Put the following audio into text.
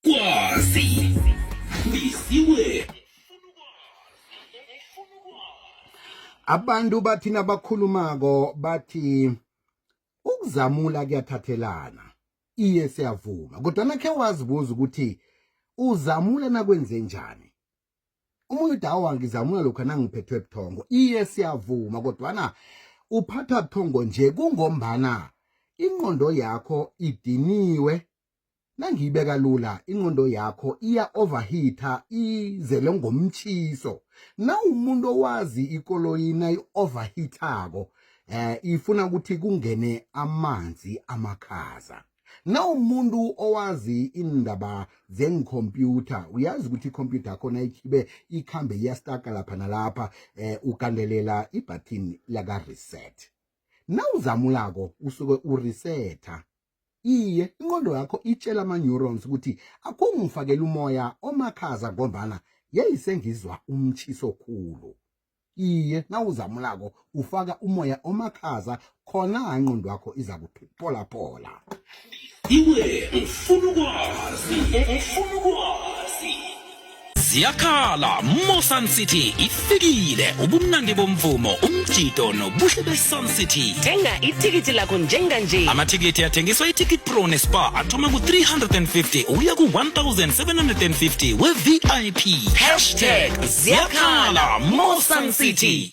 Kwazi. Bisiwe. Abantu bathi nabakhulumako bathi ukuzamula kuyathathelana. Iye siyavuma. Kodwa nakhe wazibuza ukuthi uzamula nakwenze njani? Umuntu dawa ngizamula lokho nangiphethwe buthongo. Iye siyavuma kodwana uphatha buthongo nje kungombana ingqondo yakho idiniwe nangiyibeka lula ingqondo yakho iya overheata izele ngomtshiso nawumuntu owazi ikoloyi nayi-overheatako eh ifuna ukuthi kungene amanzi amakhaza nawumuntu owazi indaba zengikhompyutha uyazi ukuthi ikhompyutha yakho nayikhibe ikhambe iyastaka lapha nalapha eh ugandelela ibhathini laka-reset nawuzamulako usuke uresetha iye inqondo yakho itshela ama-neurons ukuthi akungifakela umoya omakhaza ngombana yeyisengizwa umtshiso khulu iye nawuzamulako ufaka umoya omakhaza khona inqondo yakho iza kuphipholaphola iwe ngifuna ukwazi ngifuna ukwazi ziyakhala mosun city ifikile ubumnandi bomvumo umjido nobuhle besun city thenga ithikithi lakho njenganje amathikithi athengiswa iticket pro nespa athoma ku-350 uya ku-1750 we-vip hashtag ziyakhala mosun city